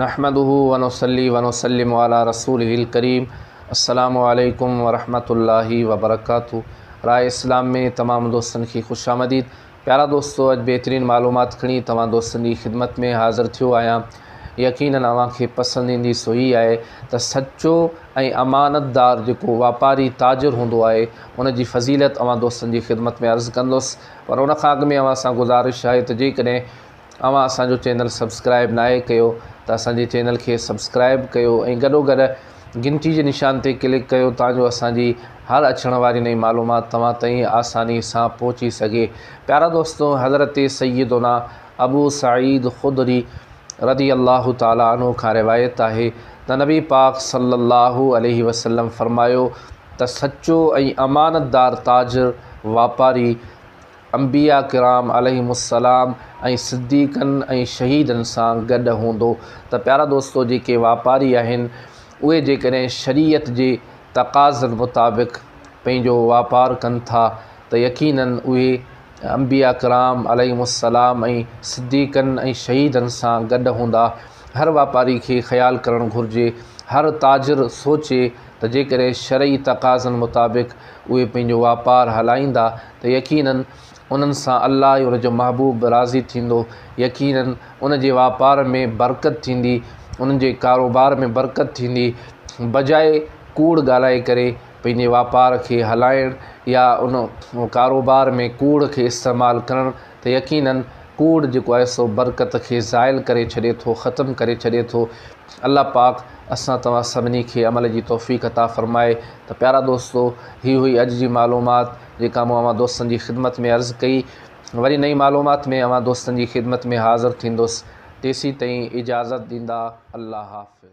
نحمده ونصلي ونسلم علي رسوله الڪريم السلام عليڪم ورحمة الله وبرڪاته راء اسلام ۾ تمام دوستن کي خوش آمديد پيارا دوستو اڄ بهترين معلومات کڻي توهان دوستن جي خدمت ۾ حاضر ٿيو آهيان يقينن اوهان کي پسند ايندي سو هي آهي ته سچو ۽ امانتدار جيڪو واپاري تاجر هوندو آهي ان جي فضيلت اوهان دوستن جي خدمت ۾ عرض ڪندس پر ان کان اڳ ۾ اوهان سان گذارش آهي ته جيڪڏهن اوهان اسان جو چينل سبسڪرائب ناهي ڪيو ته اسان جي چينل کي سبسڪرائب ڪيو ۽ گڏو گڏ گهنٽي جي نشان تي ڪلڪ ڪيو تان جو اسان جي هر اچڻ واري نئين معلومات توهان تائين آساني سان پهچي سگهي پيارا دوستو حضرت سيدنا ابو سعيد خدري رضي الله تعالٰي عنه کان روايت آهي ته نبي پاڪ صلي الله عليه وسلم فرمايو ته سچو ۽ امانتدار تاجر واپاري انبياء ڪرام عليهم السلام ۽ صديقن ۽ شهيدن سان گڏ هوندو ته پيارا دوستو جيڪي واپاري آهن اهي جيڪڏهن شريعت جي تقاضن مطابق پنهنجو واپار ڪن ٿا ته يقينن اهي انبياء ڪرام عليهم السلام ۽ صديقن ۽ شهيدن سان گڏ هوندا هر واپاري کي خيال ڪرڻ گهرجي هر تاجر سوچي ته جيڪڏهن شرعي تقاضن مطابق اهي پنهنجو واپار هلائيندا ته يقيناً انهن سان الله ۽ ان جو محبوب به راضي ٿيندو، يقيناً ان جي واپار ۾ برڪت ٿيندي، انهن جي ڪاروبار ۾ برڪت ٿيندي، بجاء ڪوڙ ڳالهائي ڪري پنهنجي واپار کي هلائڻ يا ان ڪاروبار ۾ ڪوڙ کي استعمال ڪرڻ ته يقيناً ڪوڙ جيڪو آهي سو برڪت کي زائل ڪري ڇڏي ٿو، ختم ڪري ڇڏي ٿو. الله پاڪ اسان توهان سڀني کي عمل جي توفيق عطا فرمائي ته پيارا دوستو هي هئي اڄ جي معلومات جيڪا مون اوهان دوستن جي خدمت ۾ عرض ڪئي وري نئين معلومات ۾ اوهان دوستن جي خدمت ۾ حاضر ٿيندس تيسين تائين اجازت ڏيندا الله حافظ.